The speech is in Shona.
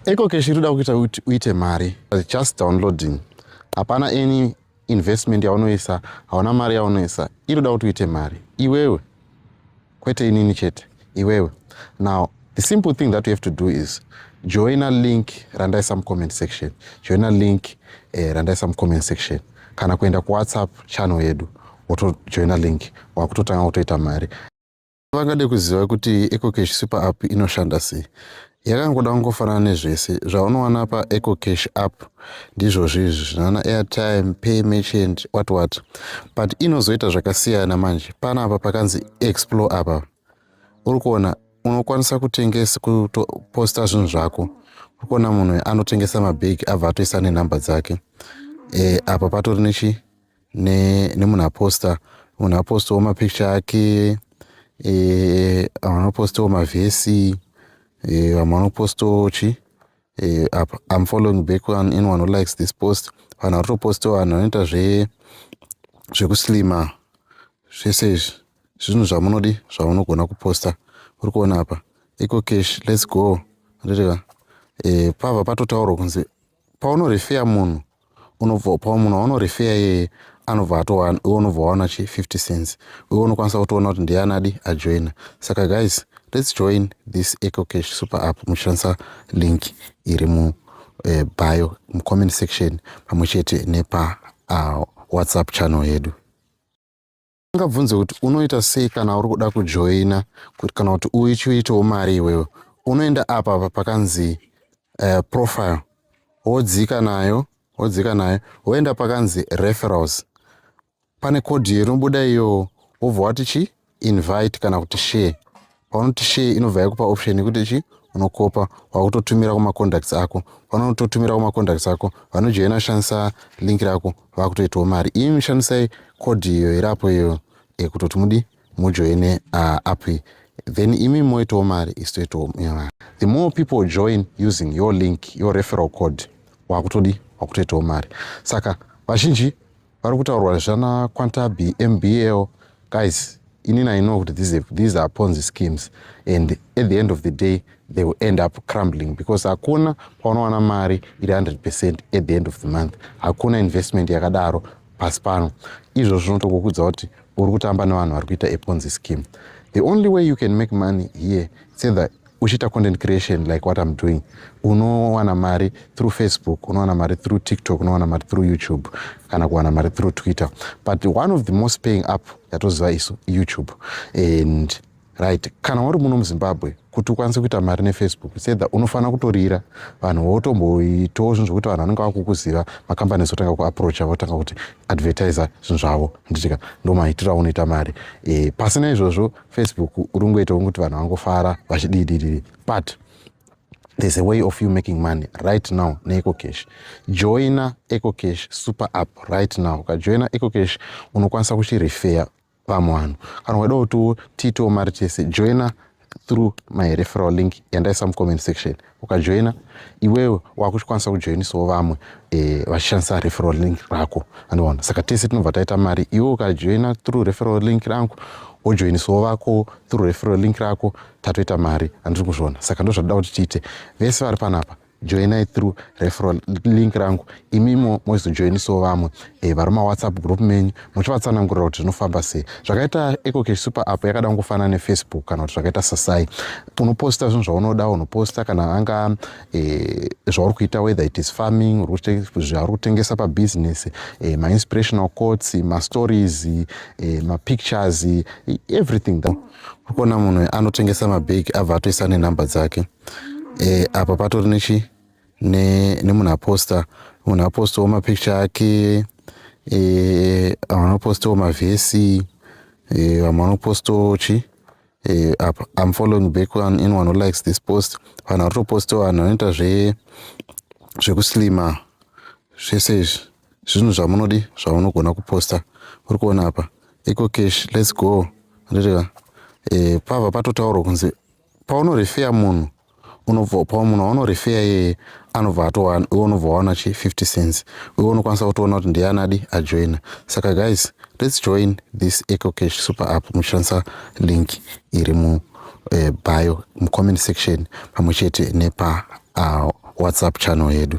Ecocash iri kuda kuita kuti uite mari just downloading hapana any investment yaunoisa hauna mari yaunoisa iri kuda kuti uite mari iwewe kwete inini chete iwewe now the simple thing that you have to do is joina link randaisa mucomment section joina link eh, randaisa mucomment section kana kuenda kuwhatsapp channel yedu wotojoina link wakutotanga kutoita mari Vangade kuziva kuti EcoCash Super App inoshanda sei. Yakangoda kungofanana nezvese zvaunowana pa EcoCash App ndizvozvo izvi zvinowana airtime, pay merchant, what what. But inozoita zvakasiyana manje panapa pakanzi explore apa. Uri kuona unokwanisa kutengesa kutoposta zvinhu zvako. Uri kuona munhu anotengesa mabag abva atoisa nenhamba dzake. E, apa patori nechi nemunhu aposta munhu apostawo mapicture ake eh, vamwe vanopostawo mavhesi eh, vamwe vanopostawo chi eh, apa im following back one anyone who likes this post vanhu vari kutopostawo vanhu vanoita zve zvekuslima zvese izvi zvinhu zvamunodi zvamunogona kuposta uri kuona apa eco cash lets go rereva pava patotaurwa kunzi paunorefeya munhu unobva pa munhu waunorefeya iyeye anobva atowa iwe unobva waona chi 50 cents iwe unokwanisa kutoona kuti ndiani adi ajoina saka guys let's join this ecocash super app muchishandisa link iri mu eh, bio mucomment section pamwe chete nepa uh, whatsapp channel yedu ungabvunze kuti unoita sei kana uri kuda kujoina kuti kana kuti uchiitawo mari iwewe unoenda apa apa pakanzi uh, profile wodzika nayo wodzika nayo woenda pakanzi referals pane kodhi inobuda iyo wobva wati chi invite kana kuti share paunoti share inobva yakupa option yekuti chi unokopa wakutotumira kumacontacts ako vanototumira kumacontacts ako vanojoina shandisa link rako vakutoitawo mari imi shandisai code iyo irapo iyo ekutoti mudi mujoine uh, app iyi then imi moitawo mari isi toitawo mari the more people join using your link your referal code wakutodi wakutoitawo mari saka vazhinji Pari kutaurwa zvana Kwantabi MBL guys inini I know kuti these, these are ponzi schemes and at the end of the day they will end up crumbling because hakuna paunowana mari iri 100 percent at the end of the month hakuna investment yakadaro pasi pano izvo zvinotokukudza kuti uri kutamba nevanhu vari kuita eponzi scheme the only way you can make money here it's either uchiita content creation like what im doing unowana mari through facebook unowana mari through tiktok unowana mari through youtube kana kuwana mari through twitter but one of the most paying up yatoziva isu youtube and right kana wari muno muzimbabwe kuti ukwanise kuita mari nefacebook sedha unofanira kutorira vanhu votomboitawo zvinhu zvokuti vanhu vanenge vakukuziva makambani zotanga kuaproacha votanga kuti advertiser zvinhu zvavo nditika ndomaitira unoita mari e, pasina izvozvo Facebook uri kungoitawo kuti vanhu vangofara vachididididi but there's a way of you making money right now neecocash joina ecocash super app right now ukajoina ecocash unokwanisa kuchirefeya vamwe vanhu kana ukaida kuti tiitewo mari tese joina through my referal link yandaisa mucomment section ukajoina iwewe wakuchikwanisa kujoinisawo vamwe eh, vachishandisa referal link rako anoona saka tese tinobva taita mari iwe ukajoina through referal link rangu wojoinisawo vako through referal link rako tatoita mari andiri kuzviona saka ndozvadoda kuti tiite vese vari panapa joinai through referal link rangu imimo moizojoinisawo vamwe e, vari mawhatsapp group menyu muchivatsanangurira kuti zvinofamba sei zvakaita ecocash super app yakada kungofanana nefacebook kana kuti zvakaita sasai unoposta zvinhu zvaunoda unoposta kana anga e, zvauri kuita whether it is farming zvauri kutengesa pabusiness e, mainspirational courts mastories e, mapictures e, everything that ukuona munhu anotengesa mabag abva atoisa nenumber dzake e, apa patori nechi nemunhu aposta munhu apostawo mapicture ake eh, vamwe vanopostawo mavhesi eh, vamwe vanopostawo chi eh, apa im following back one in one who likes this post vanhu vari kutopostawo vanhu vanoita zve zvekuslima zvese izvi zvinhu zvamunodi zvamunogona kuposta uri kuona apa ecocash lets go ndireva pava patotaurwa kunzi paunorefeya munhu unobva pa munhu waunorefeya iyeye anobva atowa iwe unobva waona chi 50 cents iwe unokwanisa kutoona kuti ndiye anadi ajoina saka guys let's join this ecocash super app muchishandisa link iri mu uh, bio mucomment section pamwe chete nepa uh, whatsapp channel yedu